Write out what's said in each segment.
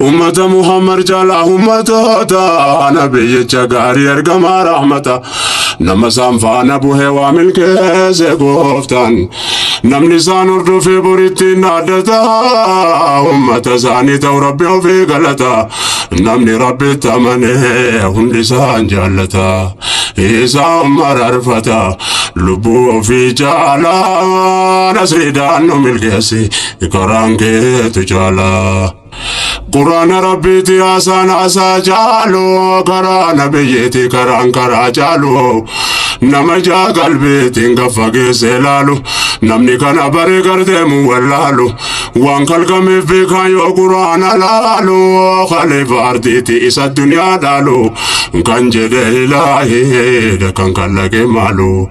Ummata Muhammad caalaa ummatoota nabiyyicha gaarii ergamaa rahmata nama isaan faana buhee waa milkeesse gooftaan namni isaan hordofee borittiin dhaaddata ummata isaanii ta'u rabbi ofii galata namni rabbitti amanee hundi isaan jaallata isaa ummar arfata lubbuu ofii caalaa nasriidhaan nu milkeesse karaan keetu caala. Quraana rabbiiti haasaan haasaa caalu karaa nabiyyiiti karaan karaa caalu nama ijaa qalbiitiin gad fageessee laalu namni kana bare gardeemu wallaalu waan kalqameef beekaan yoo quraana laalu khalifa ardiiti isa duniyaa dhaalu kan jedhe ilaahi kan kallaqe maalu.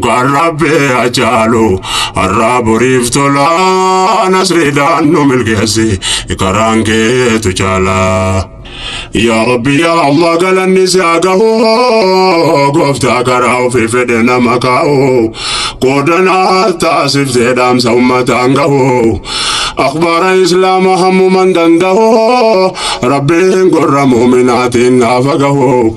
Kan rabbee hacaalu har'aa boriif tola nasriidhaan nu milkeessi karaan keetu caala. Yaa Rabbi yaa Allah galanni si haa gahu gooftaa karaa ofii fedhe nama kaa'u qoodanaa taasiftee dhaamsa ummataan gahu akhbaara islaama hammuman danda'u rabbiin gorra muuminaatiin naafa gahu.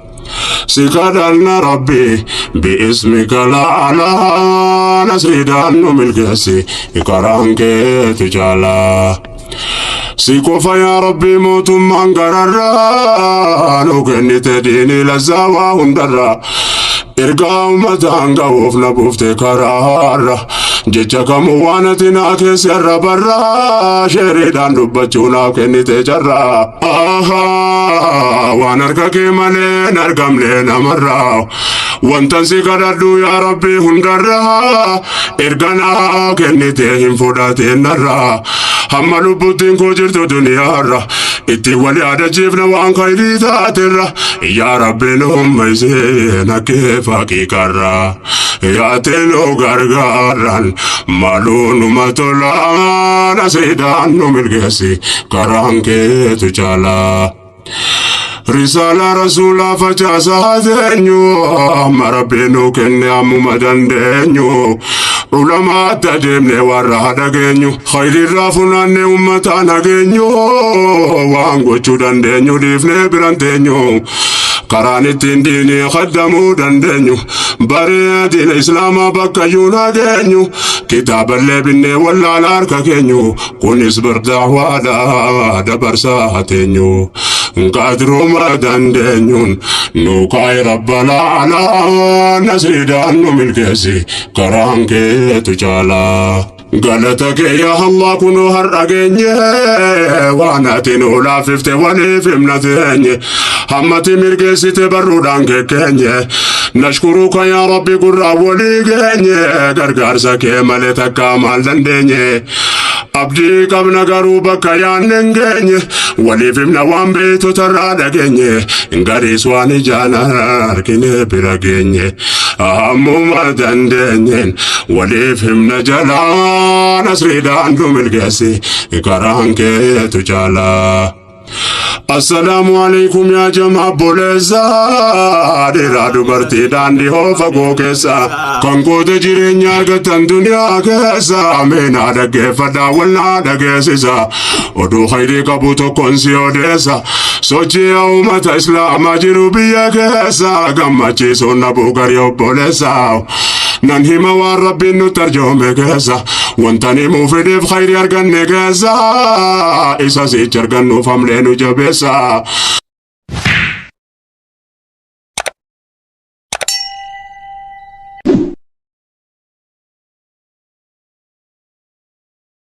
Sikadhanna rabbi bi'ismi galaana nasridaan nu milkeessi karaan keetu caala. Si qofa yaa rabbi mootummaan gararraa nu kennite diini lazzaa waa hundarraa. Ergaa ummataan ga'uuf na buufte karaarra. Jecha kamuu waan ati naa keessa irra barraa sheeriidhaan dubbachuu naaf kennite carraa. Ahaa waan harka kee malee hin argamne namarraa. Wantan si kadhadhu yaa rabbi hundarraa erga naa kennite hin fudhatiin narraa. Hamma lubbuttiin koo jirtu duniyaarra itti wal yaadachiifna waan kayrii taaterra. Yaa rabbi nu hummeessee na kee fakkii karraa. yaatee nu gargaaraan maaloo numa tolaa nasiidhaan nu milkeessi karaan keetu caalaa. Risaala rasuulaa facaasaa teenyu amma rabbi nu kenne ammuma dandeenyu ulamaatti adeemne warra dhageenyu khayrirraa funaanne ummataa nageenyu waan gochuu dandeenyu dhiifne biran teenyu karaan ittiin diinii kaddamuu dandeenyu. Baree diina islaamaa bakka iyyuu naa geenyu kitaaballee binnee wallaala harka keenyu kunis bardaawaadha dabarsaa teenyu qaadrooma dandeenyuun nu kaa'e rabba laala nasriidhaan nu milkeessi karaan keetu caalaa. Galata kee yaa Allah kunoo har'a geenye waan ati nu laaffifte waliif himna teenye hammati mirgeessite barruudhaan kekkeenye nashkuruka yaa Rabbi gurraa walii geenye gargaarsa kee malee takkaa maal dandeenye abdii qabna garuu bakka yaanne hin geenye waliif himna waan beektotarraa dhageenye gariis waan ijaan argine bira geenye. Ammuma dandeenyeen waliif himna jalaa nasriidhaan nu milkeessi karaan keetu caalaa. Assalaamu alaikum yaa jamaa boleessa dhiiraa dubartii daandii hoo fagoo keessa kan goota jireenya argatan duniyaa keessa meenaa dhaggeeffadhaa walnaa dhageessisa Oduu khayrii qabu tokkon si odeessa. Sochii uummata islaamaa jiru biyya keessa gammachiisuun dhabuu garii obboleessa. Nan hima waan rabbiin nutti arjoome keessa. Wanta ni muufideef khayrii arganne keessa. Isa sichi argannuuf hamlee nu jabeessa.